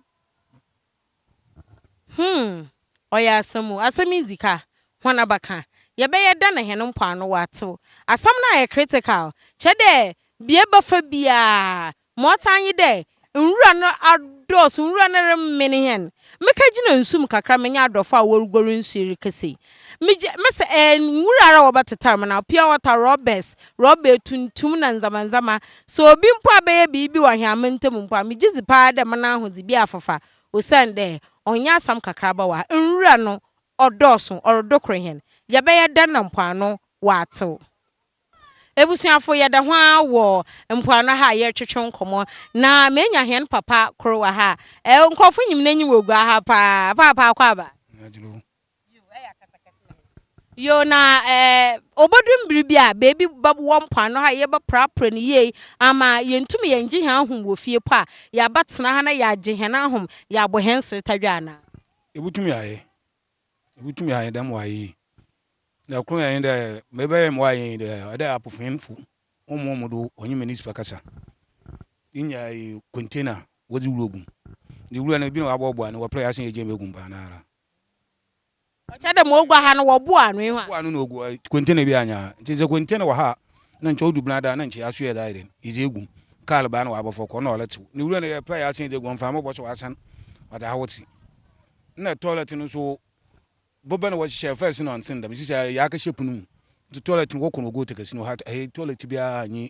Hmm, ɔyɛ asɛm o, asɛm yi dzi ka, hɔn abakã, yɛbɛyɛ dɛ na hɛn mpoano wɔatsew. Asɛm no ayɛ critical, kyerɛ dɛ bea ebɛfa biara, ma ɔtse nye dɛ nwura no adɔɔ so, nwura no remen hɛn. Mekɛgyina nsu mu kakra menye adɔfo a woruguar nsu yi rekesi, Megye me sɛ ɛɛ nwura ara wɔba tetar mu na pure water rɔbɛs, rɔba etuntum na ndzɛmba ndzɛmba. Sɛ obi mpo abɛyɛ biribi wɔ hɛn aman ntamu mpo a, megye dzi paa dɛ mo n'ahodze bi afafa osiandɛ ɔnnyɛ asɛm kakraba wɔ ha. Nwura no ɔdɔɔ sõ, ɔrodokor hɛn. Yɛbɛyɛ dɛn na mpoano ɔatsew? Ebusuafo, yɛda ho ara wɔ mpoano ha a yɛrotwetwe nkɔmbɔ, na meenya hɛn papa kor wɔ ha a, nkorɔfo nyim n'enyi wɔ gua ha paa. Paapa Akwaaba! Yoo na ɛɛ obodu mbiri bi a beebi bɛwɔ mpoano ha yɛbɛprapra no yie ama yɛntum yɛngye hɛn ahom wɔ fie mpo a, yɛabɛtsena ha na yɛagye hɛn ahom, yɛabɔ hɛn sertadwe anaa? Ibotum yɛayɛ, ibotum yɛayɛ dɛm wɔ ha yi. Dza kor nye dɛ, ma ebɛyɛ ma wɔayɛ nye dɛ, ɔdɛ apofeenfo hom hɔn mu do ɔnye Minisipa kasa, inya container wɔdze wura gu mu, iwura no, bi na wɔabɔboa no, wɔaprɛ yɛ asen yɛ gyee mu egu mu paanara. ɔkyɛ dɛ ma ogua ha no wɔboa ano yi ho a. Boa ano na ogua container bi anya ha ntsi sɛ container wɔ ha a na nkyɛ odu bnadaa na nkyɛ yɛasoɛ dze ayɛ dɛn edze egu mu kaar baa na ɔabɔfɔr kɔ nna ɔretsew ne wura no dɛ pɛɛ asan edze egu hɔ mfa mbɔbɔ so ɔasan ɔdze ahotse nna toilet no so bɔbɛ na wɔhyehyɛɛ first no ɔnntsen dɛm sesei yɛakɛhyɛ pon mu ntsi toilet no wɔkɔ no wɔgow tekesi no ha toilet biara nnyi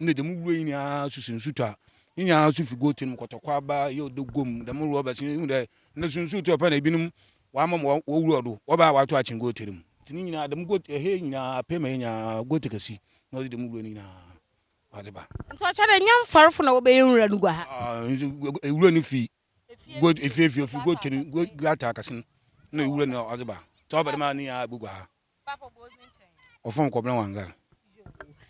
Ndɛ dɛm wura yi nyinaa so si nsutɔ a ne nyinaa so fi goat no mu kɔtɔ kwaba, yɛ ɔdɔ guam, dɛm rubber si ehu dɛ ndɛ so nsutɔ pɛ na ebinom wɔama ma wɔwura do wɔba a wɔato akyen goat no mu ntsi ne nyinaa dɛm goat ɛhɛ yi nyinaa apɛ ma yɛ nyinaa goat kɛse na ɔdze dɛm wura no nyinaa ɔdze ba. Ntsi ɔkyerɛ dɛ nnyɛ mfarfo na wɔbɛyɛ nwura no guaha. Aah wura no fi goat efie fi ofi goat no goat gutter akɛse no na ewura no ɔdze ba ntsi ɔba dɛm a ne nyinaa eboguaha. Ɔfɔn nkɔblɛ Wangar.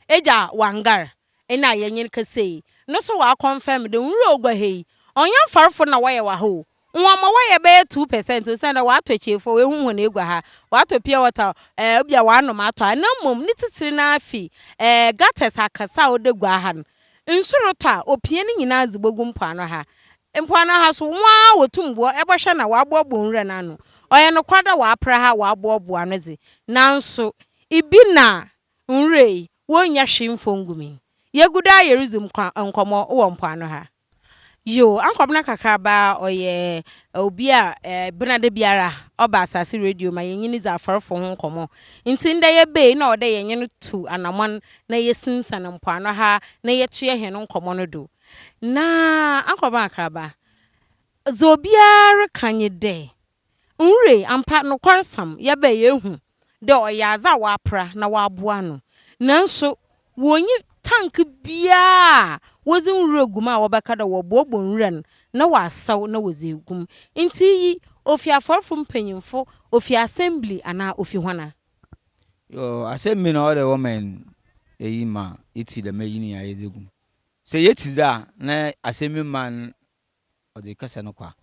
Egya Wangar ena yɛnyen kɛsei no so wɔakɔnfɛm dɛ nwura ogua ha yi ɔnnyɛ mfarfo na wɔyɛ wɔ ha o, nwɔnmɔ wɔyɛ bɛyɛ two pɛsɛnt osiandɛ wɔatɔ ekyiefo a woehu hɔn egua ha, wɔatɔ pure water a eh bi a wɔanom atɔ ha na mbom ne tsitsir no ara fi eh gutters akɛse a ɔda gua ha no Nsu rotɔ a, opia ne nyina dze bogu mpoano ha. Mpoano ha so, hɔn ara wotum bɔ bɔhwɛ na wɔabɔbɔ nwura no ano. Ɔyɛ nokwar dɛ wɔapra ha a wɔabɔbɔ ano dze, naaso ibi na nwura yi, wonnya hwee mmfɔ nngu mu yi. Yegu do ara yeridzi nkɔmbɔ wɔ mpoano ha. Yo, Ankwabena Kakraba ɔyɛ obi a bena da biara ɔba Asase Radio ma yɛnye no dzi afɔrfo ho nkɔmbɔ. Ntsi ndɛ yɛba yi nna ɔwɔ dɛ yɛnye no tu anamɔn na yesinsan mpoano ha na yɛtoa hɛn nkɔmbɔ no do. Na Ankwabena Kakraba, dza obiara reka nye dɛ Nure, ampa, nokwarsɛm, yɛbɛ yeehu dɛ ɔyɛ adze a wɔapra na wɔaboa ano. Nanso, wonnyi tank biara a wɔdze nwura gu mu a wɔbɛka dɛ wɔboaboa nwura no na wɔasɛw na wɔdze egu mu. Ntsi iyi, ofi afɔrfo mpanyimfo, ofi assembly, anaa ofi hɔn? Yo, assembly na ɔwɔ dɛ wɔma hɛn eyi ma yetsi dɛm eyi ne nyina yɛdze gu mu. Sɛ yetsi dze a, na assembly man Wɔdze kɛsɛ no kɔ a,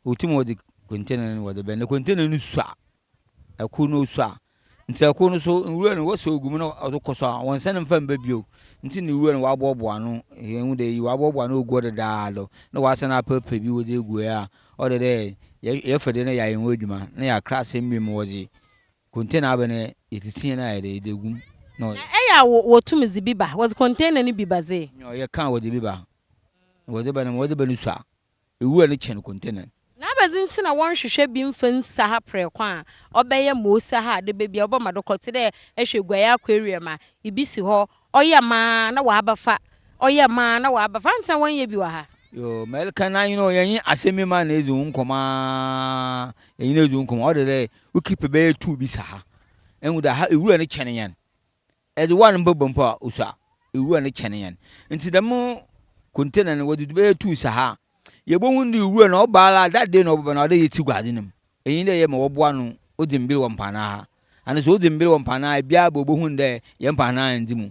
wotum wɔdze container no wɔdze bɛn na container no su a, kor no osu a, ntsi kor no so nwura no wɔsɛ ogu mu na ɔdze kɔ sor a, wɔnnsan mmfa mmba bio. Ntsi na nwura no wɔabɔɔboa ano, yehu dɛ iyi wɔabɔɔboa ano ogu hɔ dedaado na wɔasan apepa bi wɔdze egu hɔ a, ɔyɛ dɛ yɛfa bi na yɛayɛ ho edwuma na yɛakra asɛm bi mu wɔdze Container bɛ na yetsitsia no a yɛde yɛdze egu mu na. Na ɛyɛ a wotum dze bi ba, wɔdze container no bi ba dze. Nyew, yɛkã wɔdze bi ba, na wɔdze ba no ma wɔdze ba no su a, ewura no kyɛn container no. Na ebɛnadze ntsi na wɔnnhwehwɛ bi mfa nsi ha prɛko a ɔbɛyɛ ma osi ha a dɛ beebi a wɔbɛma do kɔ tse dɛ ehwɛ guai aquarium a, bi si hɔ, Ɔyɛ maa na w'abɛfa. Ɔyɛ maa na w'abɛfa. Ansa wɔnyɛ bi wɔ ha. Yoo mɛlka na you know yɛnye asɛm bi ma na edzi wo nkɔmɔ aa yɛnye no edzi wo nkɔmɔ ɔde dɛ wo keep bɛyɛ two bi sa ha ehu dɛ ha ewura no kyɛn yɛn edze one mpo bɔ mpo a osua ewura no kyɛn yɛn ntsi dɛm container no wɔdze bɛyɛ two sa ha a yebohu dɛ ewura no ɔba ara that day na ɔbɛba na ɔwɔ dɛ yetsi gu adze no mu Iyi nye dɛ yɛ ma wɔboa no odzi mber wɔ mpaanan ha, ana sɛ odzi mber wɔ mpaanan ha a, biara bɔ obohu no dɛ yɛ mpaanan nndzi mu.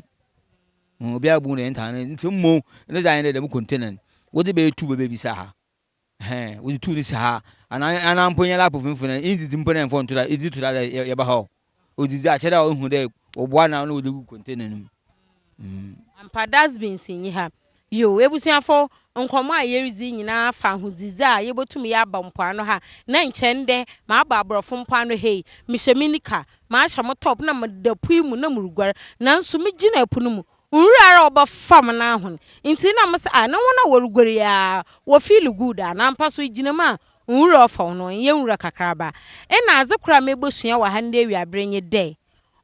Hu, obiara bohu dɛ yɛ ntaanan nndzi mu. Ntsi mbom ne dze ayɛ dɛ dɛm container no, wɔdze bɛyɛ tube beebi si ha, ɛhɛn, wɔdze tube no si ha, ana, ana mpo nyɛ laptop no mfonyin a, inndzidzi mpo na mmfa nnto da, idzidzi to da dɛ yɛba ha o. odzidzi a kyerɛ dɛ ohu dɛ wɔboa no a nna wɔdze gu container no mu. Ampa dustbins nnyi ha. Yow ebusuafo, nkɔmbɔ a yeridzi yi nyina fa ahodzidzi a yebotum yɛ aba mpoano ha. Nna nkyɛ ndɛ maba aborɔfo mpoano ha yi. Mehyɛ me nika, mahyɛ mo top na meda po yi mu na muruguar. Naaso migyinaa po no mu, nwura ara a ɔba famu no ahon. Ntsi nna mese, Ah, na hɔn a woruguar yi ara wɔfiili good a? Na ampa so igyina mu a Nwura ɔfɔw no, ɔnnyɛ nwura kakraba. Nna adze kor a mebosua wɔ ha ndɛ ewiaber nye dɛ,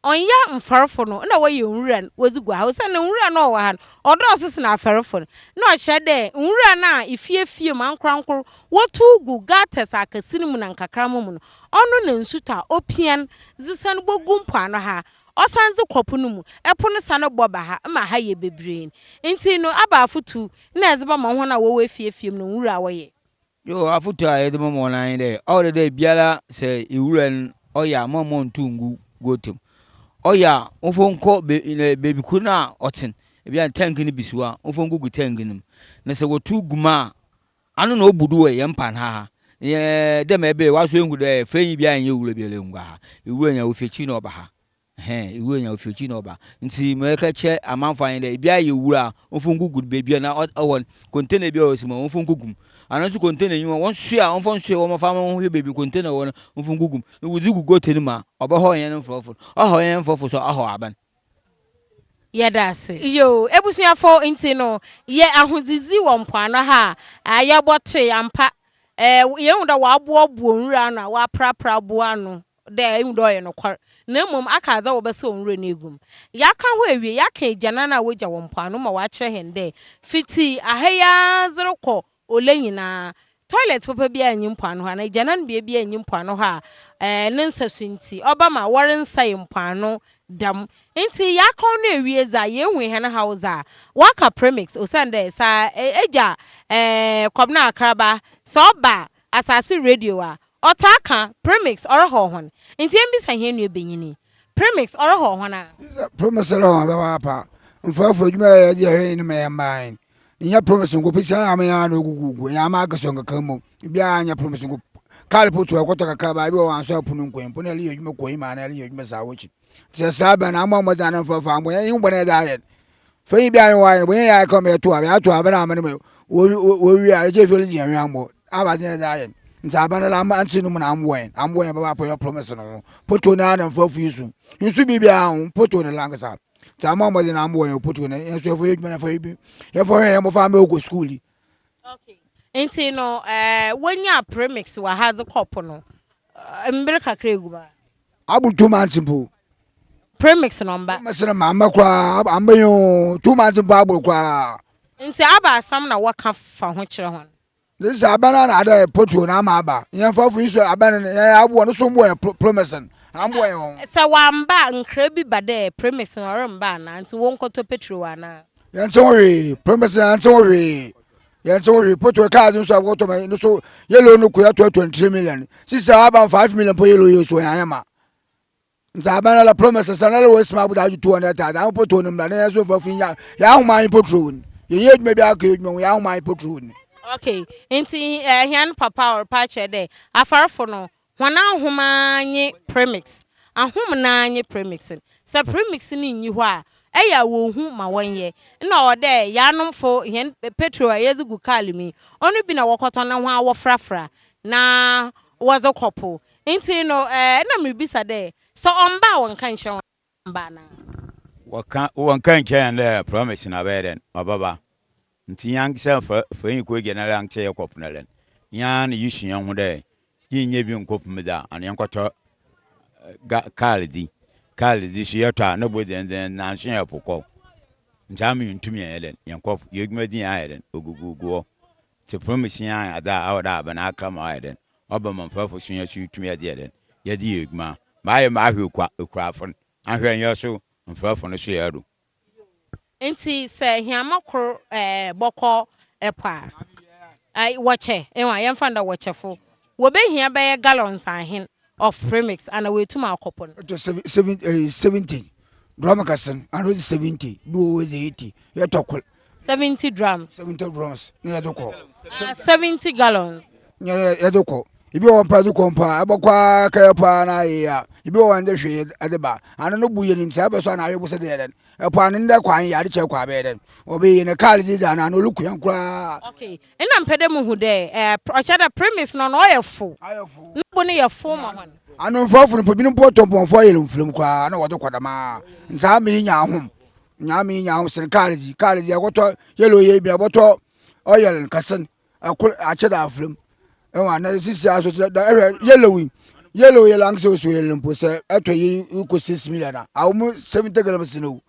ɔnnyɛ mfɛrfo no na wɔyɛ nwura no wɔdze gu ha, osiandɛ nwura no a ɔwɔ ha no, ɔdɔɔ so sen afɛrfo no. Nna ɔkyerɛ dɛ, nwura no a fie fie mu ankorankor wotuw gu gutters akɛse no mu na nkakramba mu no, ɔno na nsutɔ a opian dze san bogu mpoano ha, ɔsan dze kɔ po no mu, po no san bɔ ba ha ma ha yɛ bebree. Ntsi no, abaafo tu na ɛdze bɛma hɔn a wɔwɔ efie fie mu no nwura a wɔyɛ. Yoo afotu a yɛdze bɛma hɔn ara nye dɛ ɔwɔ dɛ dɛ biara sɛ ewura no ɔyɛ a mma mmontow nngu goat mu. Ɔyɛ a momfa nkɔ beebi kor no a ɔtsen, bi a tank no bi si hɔ a momfa ngu gu tank no mu. Na sɛ wɔtow gu mu a ano na obu do wɔ hɛn pan ha ha. Dɛ ma ebɛyɛ ɔasɔ ehu dɛ fɛnyi biara nnyɛ ewura biara nngu ha. Ewura nya ofi ekyir na ɔba ha. Ɛhɛn, ewura nya ofi ekyir na ɔba. Ntsi mereka akyerɛ amamfo ha nye dɛ, bia eyɛ wura a, wɔmfa wo nkogu do beebi a na ɔwɔ no, container bi a ɔwɔ si mu hɔ, wɔmfa wo nkogu mu. Anaa so container nnyi hɔ a, wɔnsoɛ a, wɔmfa nsoɛ hɔ mfa ma wɔnhwɛ beebi container wɔ no, wɔmfa wo nkogu mu. Na wɔdze gu goat no mu a, ɔbɛhaw hɛn mfrɔfo no. Ɔhaw hɛn mfrɔfo so a, ɔhaw aban. Yɛda ase. Yo, ebusuafo, ntsi no, yɛ ahodzidzi wɔ mpoano ha a, yɛbɔtoe ampa. Yehu dɛ wɔaboaboa nwura ano a wɔaprapra bo ano dɛ ehu dɛ ɔyɛ nokwar, na mbom aka adze a wɔbɛsɛw nwura no egu mu. Yɛakã hɔ ewie, yɛakã egyanan a wogya wɔ mpoano ma wɔakyerɛ hɛn dɛ fitsi ha yi ara dze rokɔ Ole nyina, toilet papa biara nnyi mpoano hɔ anaa egyanan bea biara nnyi mpoano hɔ a ne nsasu ntsi ɔbɛma wɔrennsɛe mpoano dɛm. Ntsi yɛakã ɔno ewie dza yehu hɛn haw dza wɔakã premix osiandɛ sɛ egya Kɔbena Akraba sɛ ɔba asaase radio a Ɔtaa kã, Premix, ɔrehɔɔ hɔn. Ntsi yembisa hɛn nuabanyin yi, Premix, ɔrehɔɔ hɔn a? Bisa, Premix, ɔrehɔɔ hɔn papaapa. Mfɛfo, edwuma a yɛyɛ dze yɛ hɛn enyi no ma yɛmmbaa he? Nnyɛ Premix nko, pisi ara ama hɛn ano eguguugu, nnyɛ ama akɛse nkɛkã mbom. Biara nnyɛ Premix nko, kaar po tse hɔ, ɔkɔtɔ kakrabaa bi wɔ hɔ a ɔannsɔ apon no nnkɔ he, mpo nna ereyɛ edwuma kɔ he ma anaa ereyɛ edwuma saa wɔ ekyir. sɛ saa bɛn na ama mo dza no mfa fa mo yɛ yin bɔne dza ayɛ no fa yin bi ayɛ wɔayɛ no bɔne yɛ ayɛ kɔ mɛ to a bɛ ato a bɛ na amene mɛ wɔwie a ɛkyɛ fɛlɛ gyina hwɛ ambɔ aba gyina dza ayɛ no nti aba no la ama nti no mu na amboa yɛn amboa yɛn bɛba pɔyɛ promise no ho poto no ana mfa fi so nso bi bia ho poto no la nkasa nti ama mo dza na amboa yɛn poto no yɛn so fo yɛ dwuma na fa bi yɛn fo hwɛ yɛn mo fa mɛ okɔ school yi okay nti no eh wɔnya premix wɔ ha dze kɔpo no mbere kakra egu ba abu two months mpo. premix na ɔmba. premix na ma mba koraa amba yi oo two months mpo abɔ koraa. nti aba asam na wɔka fa ho kyerɛ hɔn. ne sɛ aba no na ada yɛ potuo na ama aba yɛn fa fo yi sɛ aba no yɛn aboɔ no so mboɔ yɛ premix no amboɔ yɛn ho. sɛ wamba a nkra bi ba dɛ premix no ɔremba anaa nti wɔnkɔtɔ petro anaa. yɛnte ho hwee premix no yɛnte ho hwee. yɛn nso hwɛ poto cars nso a wɔtɔ ma no so yellow no kɔyɛ tɔ twenty three million sisi a aban five million po yellow yɛ so yɛn ayɛ ma nti aban ala promise sɛ nala wɔ esima abuda agye two hundred thousand ahun poto no mbra na yɛn nso fɔ fi nya yɛ ahoma anyi poto wɔ ni yɛ yɛ edwuma bi akɔ edwuma wɔ yɛ ahoma anyi poto wɔ ni. okay nti ɛhɛn eh, papa ɔrepa kyerɛ dɛ afarfo no Hɔn ahom ara nye premix. Ahom no ara nye premix no. Sɛ premix no nnyi hɔ a, ɔyɛ a wonnhu ma wɔnyɛ. Nna ɔwɔ dɛ hɛnnomfo hɛn petrol a yɛdze gu kaar mu yi, ɔno bi na wɔkɔtɔn na hɔn ara wɔforafora na wɔdze kɔ po. Ntsi no, nna miribisa dɛ, sɛ ɔmmba a wɔnnka nnkyerɛ hɔn. mba no. Wɔkã, wɔkã kyerɛ hɛn dɛ promise no abɛyɛ dɛn? Ɔbɛba. Ntsi nyanksa fa fa hɛn kɔ gya no ara nkyɛ yɛkɔpon no dɛn? Yɛara na yesu hɛnho dɛ yennya bi nnkɔpem dze a, ana yɛnkɔtɔ ga kaar dzi? Kaar dze so yɛtɔ a no bo dzen dzen dzen naaso yɛpo kɔ. Ntsi ama yenntum yɛnyɛ dɛn? Yɛnnkɔ po. Yedwuma dzi hɛn ayɛ dɛn? Ogugugu hɔ. Tse fon mu sua adze a ɔwɔ dɛ aban akra ma ɔayɛ dɛn ɔba ma mfɛfo sua so tum yɛdze yɛ dɛn yɛdze yɛ edwuma mayɛ mahwɛ kwa ekurafo no ahwɛ nyɛ so mfɛfo no so yɛ do. Ntsi sɛ hiama kor bɔkɔ po a, wɔkyɛ, yɛmfa no dɛ wɔkyɛfo Wɔbɛhia bɛyɛ gallons ahen of premix ana wɔatum akɔ po no. Ɛtɔ seven, seven, eh, seventy drum kɛse no ana ɔdze seventy bi wɔ hɔ ɔdze eighty yɛtɔ kor. Seventy drums. Seventy drums na yɛdze kɔ. Ah, seventy gallons. Nyɛ yɛdze kɔ. Ebi wɔ hɔ mpo a yɛdze kɔ mpo a ɛbɛkɔ ara kɛyɛ po ara na ayɛ a ebi wɔ hɔ ndɛ hwee yɛdze ba. Ano no bo yɛ no ntsi sɛ abɛsɔ a na awe bo sɛ dɛ yɛ dɛn. Ɛpo ano ndɛ kwan yɛ ade kyɛr kɔ a bɛyɛ dɛn. Wɔbɛyɛ no kaar dze dzi ana ano olukõ hɛn koraa. Okay, Nna mepɛ dɛ muhu dɛ ɔkyerɛ dɛ premise no na ɔyɛ fow na bo no yɛ fow ma hɔn. Ano mfɔfo no mpo, binom mpo wɔtɔ mpɔnfɔ a ɔyɛ lomflom koraa na wɔdze kɔ dɛm ara. Ntsi ama iyi nya ahom, nya ama iyi nya ahom sen kaar dzi. Kaar dze yɛkɔtɔ yellow yɛ bi a bɔtɔ oil no kɛse no kor akyɛ dɛ afora mu. Ewa na sisi ara so dze dɛ ehwɛ yellow yi, yellow yɛ lanksa osuo yellow mpo sɛ etɔ yi rokɔ six million a, aɔmu seventy gallons no wu.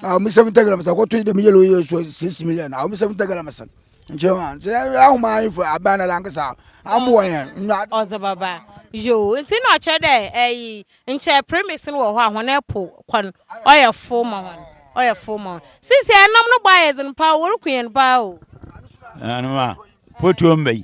a wɔn sɛm tɛ galamsɛn akɔto yi dɛm yɛlɛ yɛ so six million a wɔn sɛm tɛ galamsɛn nkyɛn wa nti ahoma ayi fo aban na lankasa amu wɔ yɛn. ɔdze baba yoo nti na ɔkyerɛ dɛ ɛyi nkyɛn premise no wɔ hɔ a hɔn ɛpo kwan ɔyɛ fo ma hɔn ɔyɛ fo ma hɔn sisi ɛnam no bɔ ayɛ dzen paa wɔreku yɛn paa o. ɛnanoma fotuo mba yi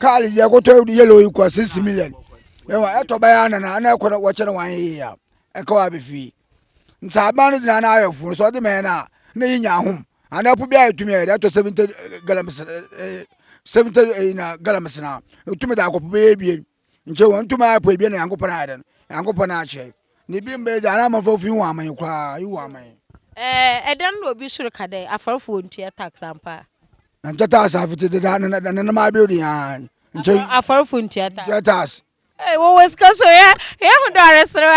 kaali yɛ kɔtɔ yɛlɛ oyi kɔ six million ɛwɔ ɛtɔ bɛyɛ anana ɛna ɛkɔ na wɔkyɛ no wɔn yɛ ya ɛka wɔ abɛfie nsa aban no gyina na ayɛ funu so ɔde mɛn na na yi nya ahom ana ɛpo bi a ɛtumi yɛ ɛtɔ seventy galamsey seventy ɛyi na galamsey na ɛtumi da akɔpo bɛyɛ ebien. nkyɛ wɔntumi ayɛ pɔ ebia na nyankopɔn ayɛ dɛn nyankopɔn akyerɛ ne bi mbɛ dza ana amafo fi wɔn aman koraa yi wɔn aman ɛɛ ɛdɛn na obi soro ka dɛ afɔrefo wɔn tua tax ampa na nkyɛ tax afete deda na na nam abɛyɛ de yan nkyɛ afɔrefo ntua tax ntua tax ee wɔwɔ sika so yɛ yɛ ho dɔ aresere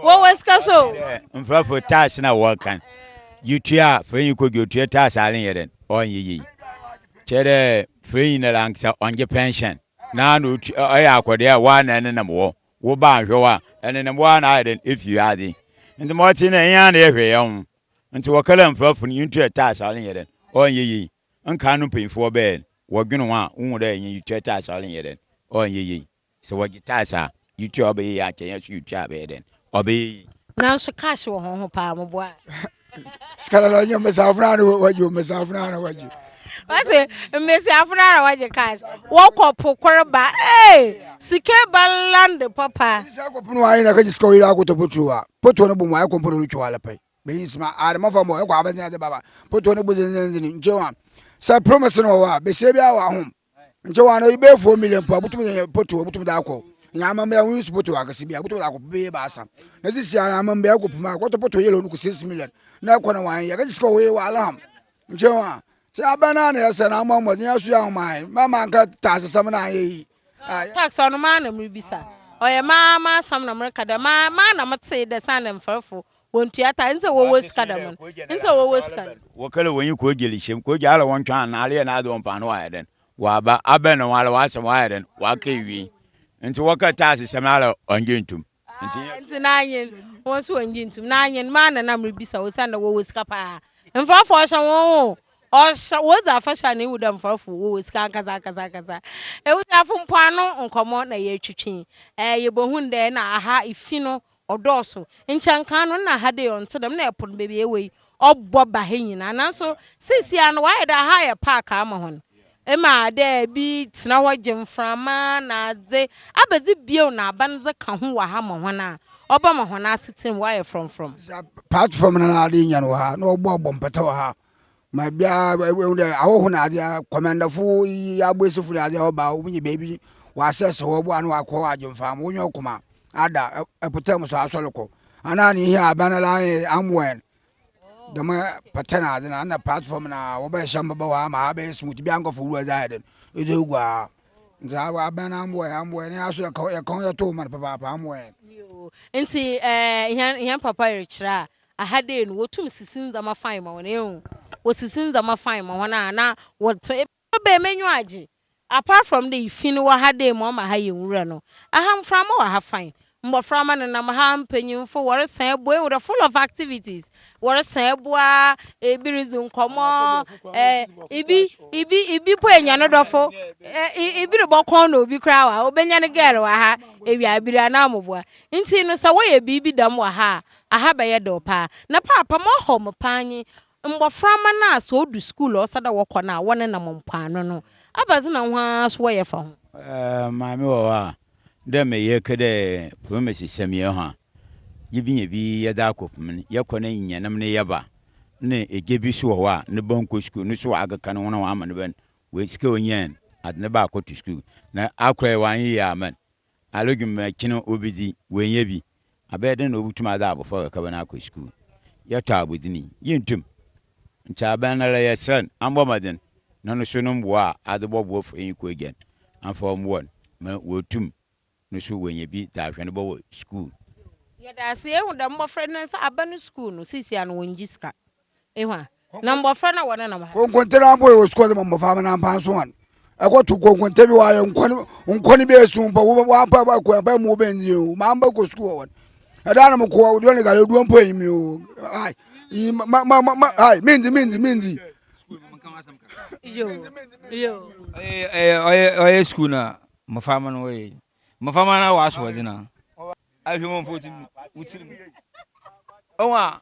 wa wɔwɔ sika so mfrafo tax na wɔkan yɛ tua fɛn yi kodwo tua tax ale yɛ dɛn ɔnyɛ yie. Kyerɛ dɛ Feiyi no lankasa ɔnngye pɛnhyɛn na ana otua ɔyɛ akɔdee a woara na enenam hɔ, wo ba annhwɛ wo a, enenam woara na ayɛ dɛn efi wiadze. Ntsi ma ɔtse no, enye ana yɛhwɛ hɛnho. Ntsi wɔ Kala mfrafo no ntua tax a ɔnnyɛ dɛn, ɔnnyɛ yie. Nkaa no mpanyimfo wɔbɛyɛ no, wɔdwen ho a, wohu dɛ nyetua tax a ɔnnyɛ dɛn, ɔnnyɛ yie. Sɛ wɔgye tax a, yɛtua a, ɔbɛyɛ yie akyɛ yɛn nso yɛtua a, ɛbɛyɛ dɛn? Ɔbɛyɛ yie. Nanso cash wɔ ho ho paa mo boa. Sika lɔlɔ nye mmesiafo naa na wɔgye mmesiafo naa na wɔgye. Wɔsi mmesiafo naa na wɔgye cash wɔkɔ po koro ba ee sika ba land papa. Sɛ akɔ pono ayɛ na kagye sika ɔyɛ akɔtɔ potro wa potro no bomu ayɛ kɔmpo no twɛ wala pɛ bɛyi nsima adama fa mɔ ɛkɔ abɛnzɛn ade baba potro no bu zenzenzen nkyɛn wa sɛ promise no wɔ hɔ a besia bi awɔ ahom. nkyɛ wɔn ano bɛyɛ four million mpo a wobɛtumi de yɛ poto wobɛtumi de akɔ na amammerɛ ho nsu poto akɛse bi a wobɛtumi de akɔ bɛyɛ baasa na sisi a amammerɛ akɔ pima a kɔtɔ poto yɛlɛ no kɔ six million na ɛkɔ na wɔn yɛ kɛgye sika wɔyɛ wɔ alaham nkyɛ wɔn a sɛ abɛn na na yɛsɛ na ama mmɔden aso yɛ ahomae mɛma nka taasesɛm na ayɛ yi tax ɔno maa na merebisa ɔyɛ maa maa asɛm na mereka dɛ maa maa na metee dɛ san dɛ mfɛrɛfo Wɔntua ta nti sɛ wɔwɔ sika dɛm no, nti sɛ wɔwɔ sika no. Wɔkɛlɛ wɔn yi kɔ gyeli hyɛm, kɔ gya alɛ wɔn twɛn anaa alɛ yɛ n'adze wɔn paano wɔ ayɛ dɛn wɔ aba, abɛn na wɔn alɛ wɔ asɛm wɔ ayɛ dɛn wɔ aka ewie. Nti wɔkɛ ta ase sɛm alɛ wɔn gye ntum. Nti yɛ. Nti n'anyen, wɔn nso wɔn gye ntum. N'anyen, maa na na mre bisa osian dɛ wɔwɔ sika paa. Mfrafo ɔhyɛ wɔn ho, ɔhyɛ, wɔdzi afahyɛ a na ehu dɛ mfrafo wɔwɔ sika ankasa ankasa ankasa. Ebusuafo mpoano nkɔmɔ na yɛ twetwe, ɛɛ yɛ bɔ hun dɛ na aha efi no Ɔdɔɔso. Nkyɛ nkan no nna ha dei ɔnntse dɛm, nna pon beebi a yɛwɔ yi ɔbɔ ba ha nyina. Naaso seseiara no wɔayɛ dɛ ha ayɛ park ama hɔn. Ema dɛ bi tsena hɔ gye mframa na adze. Abɛdze bio na aban dze ka ho wɔ ha ma hɔn a, ɔbɛma hɔn asetsena mu wɔayɛ frɔmfrɔm. Dza platform no ara dze nya no wɔ ha, na wɔbɔbɔ mpata wɔ ha. Ma biara ehu dɛ ahɔho na adze a, kɔmandafo yi, aboesifo na adze a wɔba a wobenya beebi wɔasɛs hɔ ɔboa ano wɔakɔ hɔ agye mfam. Wo nyɛn koma ada mpɔtam so asɔr kɔ. Ana ne hia aban ara nye Amwɛn dɛm pata na adze no ana platform no a wɔbɛhyɛ mboba wɔ ha ma ha abɛyɛ smooth. Bia nkorɔfo wura dze ayɛ dɛn edze egu ha. Ntsi aw aban Amwɛn Amwɛn ne yɛa so yɛka wo yɛka wo yɛto wo man papaapa Amwɛn. Yoo, ntsi ɛɛ hɛn hɛn papa rekyerɛ a Aha dei no, wotum sisi ndzɛmba fine ma hɔn, ehu, wosisi ndzɛmba fine ma hɔn a na wɔtse. Ebɛn m'enyiwa agye? Apart from dɛ fi no wɔ ha dei ma ɔma ha yɛ nwura no, aha mframa wɔ ha fine, mboframba nenam ha, mpanyimfo wɔresan eboa, ehu dɛ, full of activities, wɔresan eboa, bi ridzi nkɔmbɔ, eh, bi, bi, bi mpo enya no dɔfo, eh, bi robɔ kɔn na obi koraa wɔ ha, obenya no girl wɔ ha, ewia aber anaa mbowa. Ntsi no sɛ wɔyɛ biribi dɛm wɔ ha a, Aha bɛyɛ dɛw paa na paapa moahɔ me paa nye mboframba no a sɛ odu skuul a ɔsɛ dɛ wɔkɔ no a wɔnenam mpoano no. Ebɛdze na hɔn ara so wɔyɛ fa ho? Maame wɔ hɔ a, dɛ mbrɛ yɛrekɛ dɛ promese sɛ meyɛ ho a, yebenya bi yɛdze akɔpem no, yɛkɔ na yenya nam na yɛba. Nna egya bi so wɔ hɔ a no ba nnkɔ skuul, no so ɔakeka no ho na ɔama no ba no sika a onyae no, adze no ba akɔto skuul na akora yɛ ɔannyɛ yie amma no. Alodwuma akyi no obedzi, oennya bi. Abɛyɛ dɛn na obotum adze abofra kakraba no akɔ skuul? Yɛtɔ abɔdzin yi, yenntum. Nkyɛ abɛnara yɛserɛ no ambɔ mbɔdzen na no so no mboa a adze bɔboa fura yi kɔ egya no, amfa ɔmboa no ma oetum no so oenya bi dze ahwɛ no bɔ wɔ skuul. Yɛda ase, yehu dɛ mbofra no sɛ aba no skuul no, sesei ara no wonngye sika. Ehwa na mbofra na wɔne nam ha. Konkonte no abɔ yɛ wɔ sukuu ɔdze ma mbofra na ampa so hɔn ɛkɔto konkonte bi wɔayɛ nkɔn bi esu mpo wɔampa ɛbɔ ɛkɔ ɛbɔ mu wɔbɛn dzi o ma mbɛ kɔ sukuu wɔ wɔn ɛda na mo kɔ wɔ duane gari oduo mpo enyim o ai yi ma ma ma ai mi ndzi mi ndzi mi ndzi. ɔyɛ sukuu na mmɔfra ma no wɔyɛ mmɔfra ma no wɔ asoɔdze na ahwɛ mu mpo wotim wotim ɔwɔ a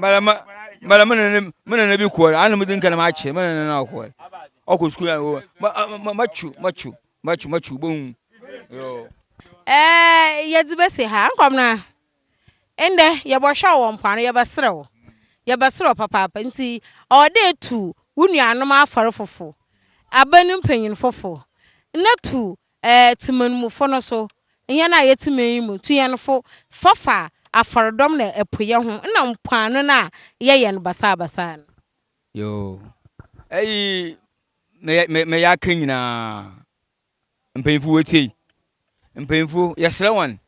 bara ma bara ma nana ma nana bi kɔɔre ana mo di nkana ma akyɛ ma nana na ɔkɔɔre ɔkɔ sukuu na ɔwɔ ma ma ma kyu ma kyu ma kyu ma kyu bɔ hu. ɛɛ yɛdze bɛsi ha nkɔm na ndɛ yɛbɔhwɛ wɔ mpoano yɛbɛserɛw yɛbɛserɛw papaapa nti ɔwɔ dɛ etu wo nuanom afɔr fofo aban mpanyinfofo na tu Ɛɛ Temanmufo no so, hɛn a yɛtse man yi mu tu hɛn fo fafa afɔrdɔm na ɛpoyɛ ho nna mpoano no a yɛyɛ no basaabasaa no. Yoo, ɛyi mɛyɛ mɛ mɛyɛ aka nyinaa mpanyinfo wɔtie yi mpanyinfo yɛsrɛ wɔn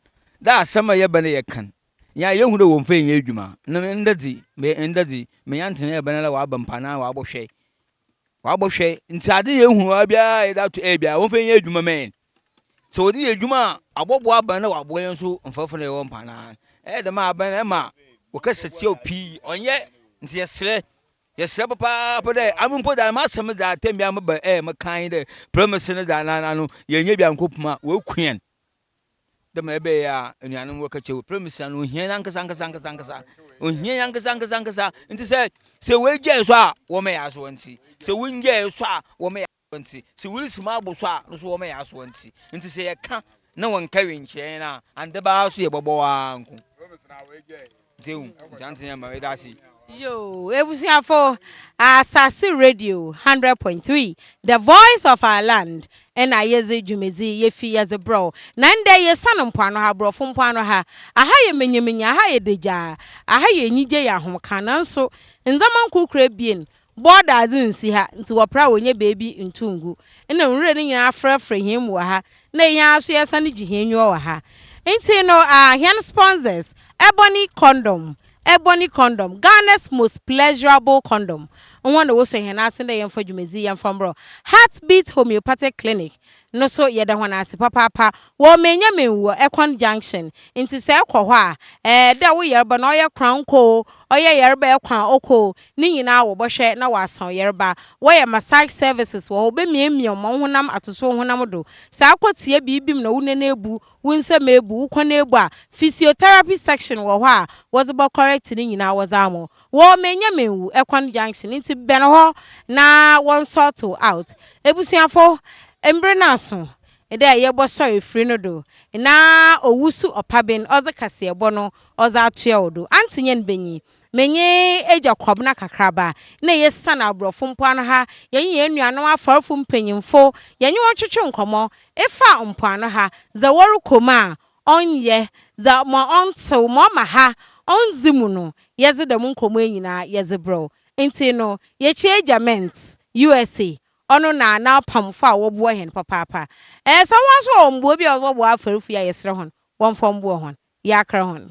dɛ asɛm a yɛbɛ no yɛ kan yɛn a yɛhu dɛ wɔn fɛ nyɛ adwuma no ndɛ dzi mɛ ndɛ dzi mɛnya ntena yɛ bɛn dɛ wɔaba mpa na wɔabɔ hwɛ Wabɔ hwɛ nti ade yɛ ehunu a biara a yɛde ato ɛyɛ biara wɔn fɛ nyɛ adwuma ma yɛn sɛ wɔde yɛ adwuma a abɔboa aban na waboa yɛn nso mfɛfo na yɛwɔ mpa na ɛyɛ dɛm a aban na ɛma wɔkasa tia pii ɔnyɛ nti yɛsrɛ yɛsrɛ papaapa dɛ ame mpo dɛ ama asɛm dza atɛm bia meba ɛyɛ mekan dɛ prɛmese no dza nana no yɛnyɛ bia nkɔpuma wɔaku yɛn dɛ ma ebɛyɛ a enuanom wɔkã kyerɛ wo prɛmisa no ohia ankasa ankasa ankasa ankasa ohia ankasa ankasa ankasa nti sɛ sɛ woegyae so a wɔmɛyɛ asoɔ nti sɛ wonyae so a wɔmɛyɛ asoɔ nti sɛ woresi mu abo so a no so wɔmɛyɛ asoɔ nti nti sɛ yɛka na wɔnka wenkyerɛ yɛn a ande baa so yɛbɔbɔ waa nko Dzew, nkyɛnse yɛ ma meda ase. Yoo, ebusuafo, Asaase Radio hundred point three, the voice of our land na yɛdze dwumadzi yefi yɛdze brɛ wo. Na ndɛ yesian mpoano ha, Borɔfo mpoano ha. Aha yɛ manyamanya, aha yɛ dagyaa, aha yɛ enyigye, yɛ ahomka. Nanso ndzɛmba nkorkor ebien Bɔ dadze nnsi ha, ntsi wɔper a wonnya beebi nntow nngu. Nna nwura no nyina aforafora hɛn mu wɔ ha, na hɛn ara so yɛsan gye hɛn enyiwa wɔ ha. Ntsi no aah hɛn sponsors, Ebony Condom, Ebony Condom, Ghana's most pleasurable condom, hɔn na wosuo hɛn ase dɛ yɛmfa dwumadzi yi yɛmfa mbrɔ Heartbeat Homeopathic Clinic no so yɛda hɔn ase papaapa wɔ Menyamin wɔ Ekwan Junction ntsi sɛ ekɔ hɔ a ɛɛ dɛ wo yarba no ɔyɛ kran nkɔ o ɔyɛ yarba ekɔ a ɔkɔ o ne nyina wɔbɔhwɛ na wɔasa wo yarba wɔyɛ massage services wɔ hɔ wɔbemiamia wo ma wo honam atoso wo honam do sɛ akɔ tsia biibi mu na wo nan ebu wo nsamu ebu wo kɔn ebu a physiotherapy section wɔ hɔ a wɔdze bɔ correct ne nyina wɔdze amɔ Wɔ Menya Menwu kwan junction nti bɛn hɔ na wɔn sort wo out. Ebusuafo, mber no aso dɛ yɛbɔ sɔr efir no do na owusu ɔpaben ɔdze kaseɛbɔ no ɔdze atoa wo do. Auntie Nyan Benyi, menye Egya Kwabena Kakraba na yesian Aborɔfo mpoano ha, yɛnye hɛn nuanom afarfo mpanyimfo yɛnye hɔn twetwe nkɔmbɔ efa mpoano ha dza wɔrokɔ mu a Ɔnnyɛ, dza ma ɔnntsew ma ɔma ha onndzi mu no, yɛdze dɛm nkɔmbɔ yi nyina yɛdze brɛ wo. Ntsi no, yɛkyia Egya Mintz, USA. Ɔno na n'apamfo a wɔboa hɛn papaapa. Ɛɛ, sɛ hɔn so wɔ mboa bi a wɔdze bɔbɔ afarfui a, yɛserɛ hɔn wɔmfa mboa hɔn. Yɛakra hɔn.